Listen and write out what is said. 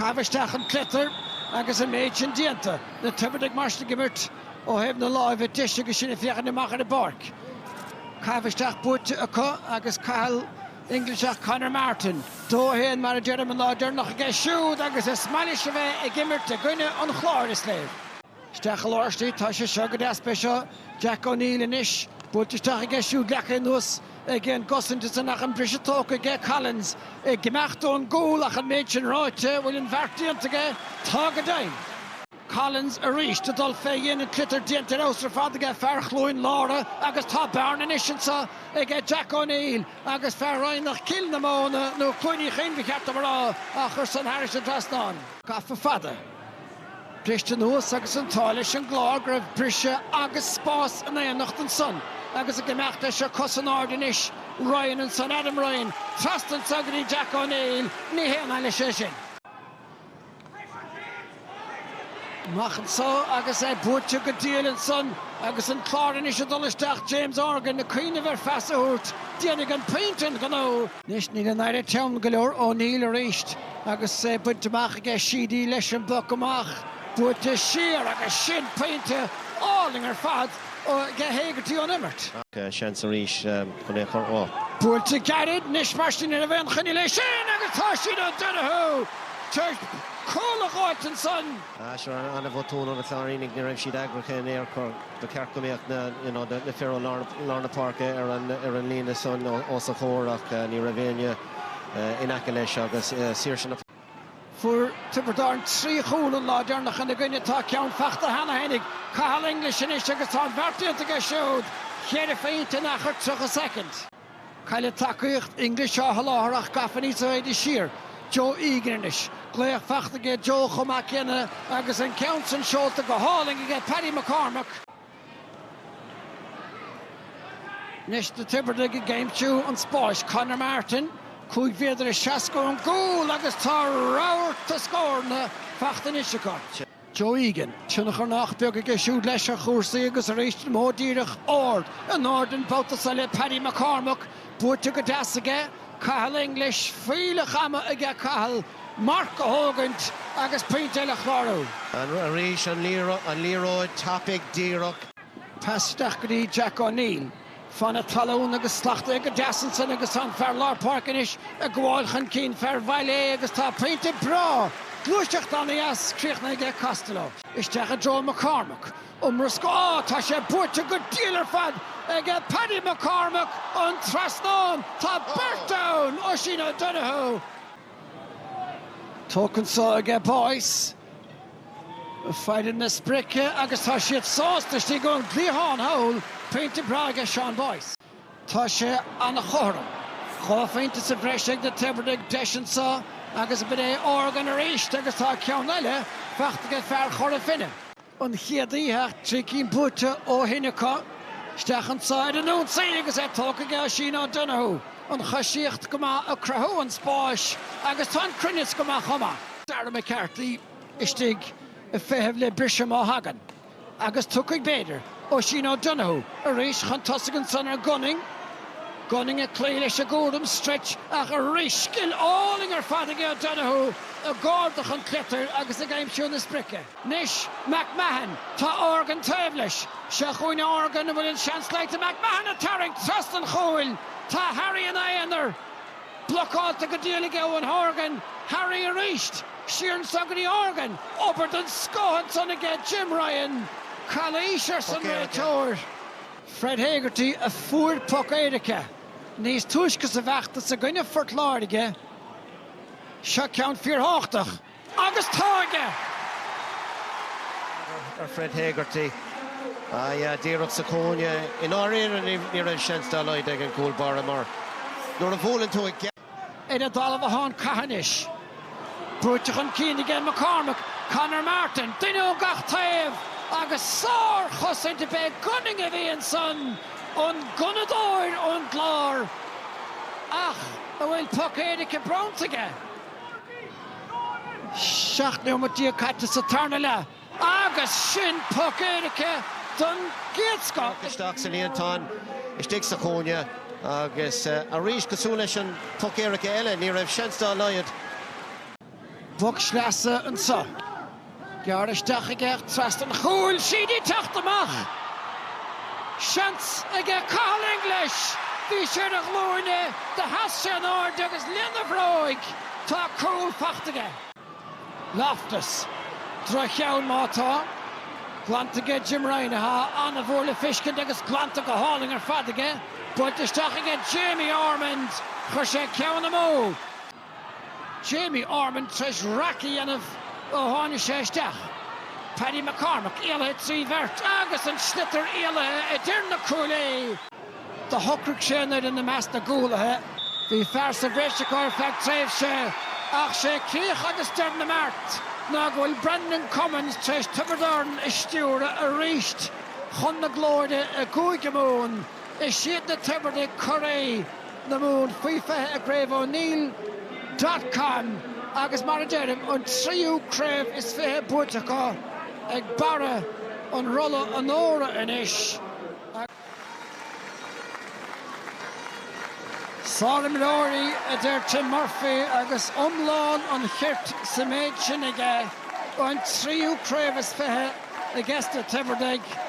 Caitheamh isteach an tsliotair agus an méid sin déanta, na Tiobradaigh mar sin ag imirt ó thaobh na láimhe deise agus sinn ag féachaint amach ar an bpáirc. Caitheamh isteach buaite acu agus Cathal English ach Conor Martin. Dó a haon mar a deirim, an lá deireanach aige siúd agus is maith leis a bheith ag imirt i gcoinne an Chláir, is léir. Isteach i lár istigh tá sé seo go deas b'é seo Jack O'Neill anois buailte isteach aige siúd leagtha anuas aige an gcosaint ansan ach an briseadh tógtha aige Collins ag imeacht ón gcúl ach an méid sin ráite bhfuil an beart déanta aige tá go deimhin. Collins arís ag dul fé dhéin an tsliotair déanta ar fheabhas ar fad aige fear Chluain Lára agus tá bearna anois anseo aige Jack O'Neill agus fear Eidhní Cill na Móna nó Cluaine Chuinche ba cheart dom a rá á chur san thairis an dtrasnán gafa fada. Briste anuas agus an t-ádh leis an gClár go raibh briseadh agus spás in éineacht ansan agus ag imeacht leis an cosán ard anois, Ryan ansan, Adam Ryan trasna ansan go dtí Jack O'Neill, ní haon ádh leis é sin. Amach anso agus é buaite go diail ansan agus an Clár anois ag dul isteach, James Organ ag cuimhneamh ar phas a thabhairt, déanfaidh an pointe an gnó. Anois níl an fhaire teann go leor, O'Neill, arís agus é bainte amach aige. Sheedy leis an bpoc amach, buailte siar agus sin pointe álainn ar fad aige Hegarty ón imirt. Ach seans arís chun é a chur ó. Buailte gairid anois mar sin ní raibh aon choinne leis sin agus tá Oisín O'Donoghue tar éis cúl a dh'fháilt ansan. Seo an-bhotún ag na Cláirínigh, ní raibh siad eagraithe in aon chor. Ba cheart go mbeadh na fir ó lár na páirce ar an líne san os a chomhair ach ní raibh éinne in aice leis agus saoirse na. Fuair Tiobraid Árann trí chúl an lá deireanach ina gcoinne. Tá ceann faighte cheana féin ag Cathal English anois agus tá an beart déanta aige siúd, ceithre phointe in achar 30 soicind. Cailleadh tacaíocht English á sholáthar ach gafa níos faide siar, Joe Egan anois. Glaoch faighte aige Joe chomh maith céanna agus an ceann sin seolta go hálainn aige Paddy McCormack. Anois na Tiobradaigh ag aimsiú an spáis, Conor Martin, cúig mhéadar is seasca ón gcúl agus tá rabharta scóranna faighte anois acu. Joe Egan, tionchar nach beag aige siúd leis ar chúrsaí agus arís an modh díreach ard in airde an babhta seo le Paddy McCormack buaite go deas aige, Cathal English fuílleach ama aige Cathal marc a thógaint agus pointe eile a chlárú. Arís an liathróid tapaidh díreach. Pas isteach go dtí Jack O'Neill. Fan na talún agus slachtaithe go deas ansan agus tá an fear lár páirc anois ag gabháil chun cinn fear Bhaile Uí Aodha agus tá pointe breá, gluaiseacht an-dheas críochnaithe aige Costello. Isteach i dtreo McCormack, iomrascáil, á tá sé buaite go diail ar fad ag Paddy McCormack an trasnán tá beirt ann Oisín O'Donoghue, tógtha anso aige Boyce. Faid ón sprioc agus tá siad sásta istigh ag an gcliathán thall, pointe breá aige Seán Boyce. Tá sé an-chothrom. Dhá phointe sa bhreis ag na Tiobradaigh, deis anseo agus b'shid é Organ arís agus tá ceann eile faighte aige fear Chora Finne. An chéad oíche, trí cinn buaite ó shin acu. Isteach anseo ar an ionsaí agus é tógtha aige Oisín O'Donoghue. An choisíocht go maith ag cruthú an spáis agus tá an cruinneas go maith chomh maith. Darragh McCarthy istigh ag feitheamh le briseadh má thagann, agus tiocfaidh b'fhéidir, Oisín O'Donoghue arís chun tosaigh ansan ar Gunning. Gunning ag cloí leis an gcúram stretch ach arís scil álainn ar fad aige O'Donoghue ag ardach an tsliotair agus ag aimsiú na sprice. Anois McMahon, tá Organ taobh leis. Seo chugainn Organ, an bhfuil an seans leata McMahon ag tarraingt trasna an chúil? Tá Harry ina aonar. Blocáilte go diail ag Eoghan Horgan, Harry arís! Siar anso go dtí Organ, obair don scoth ansan aige Jim Ryan, calaois arsan réiteoir. Fred Hegarty a fuair poc éirice níos túisce sa bhfeachtas i gcoinne Phort Láirge. Seo ceann fíor-thábhachtach. Agus tá aige! Fred Hegarty, díreach sa chúinne. I ndáiríre ní raibh seans dá laghad ag an gcúl báire mar nuair a bhuaileann tú í ar an dtalamh atá an cath anois. Brúite chun cinn aige McCormack, Conor Martin, duine ó gach taobh agus sár-chosaint, b'é Gunning a bhí ansan, an gunnadóir ón gClár ach an bhfuil poc éirice bronnta aige. 17 nóimeat caite sa tarna leath agus sin poc éirice don gcéad scoth. Isteach sa líontán istigh sa chúinne agus arís cosúil leis an bpoc éirice eile ní raibh seans dá laghad. Poc sleasa anso. Gearr isteach aige trasna an chúil, Sheedy teacht amach! Seans aige Cathal English! Bhí sé ar a ghlúine, do sheas sé in airde agus lena bhróig! Tá cúl faighte aige. Loftus, droch-cheann má tá. Glanta aige Jim Ryan, atá ana-mhór le feiscint agus glanta go hálainn ar fad aige. Buailte isteach aige Jamie Ormond! Chuir sé ceann amú! Jamie Ormond tar éis raic a dhéanamh ó tháinig sé isteach. Paddy McCormack éalaithe trí bheirt agus an sliotar éalaithe idir na cuaillí! Do shocraigh sé an uimhir i measc na gcúlaithe. Bhí fear sa bhreis acu ar feadh tréimhse ach sé críoch agus deireadh na mbeart ná go bhfuil Brendan Cummins tar éis Tiobraid Árann a stiúradh arís chun na glóire i gCúige Mumhan. Is iad na Tiobradaigh curaí! na Mumhan faoi 20 i gCraobh O'Neill dot com agus mar a deirim an tríú craobh is fiche buaite acu ag barra an Rolla Onóra anois. An-iománaithe, a deir Tim Murphy agus iomlán an chirt sa méid sin aige, an tríú craobh is fiche ag na Tiobradaigh.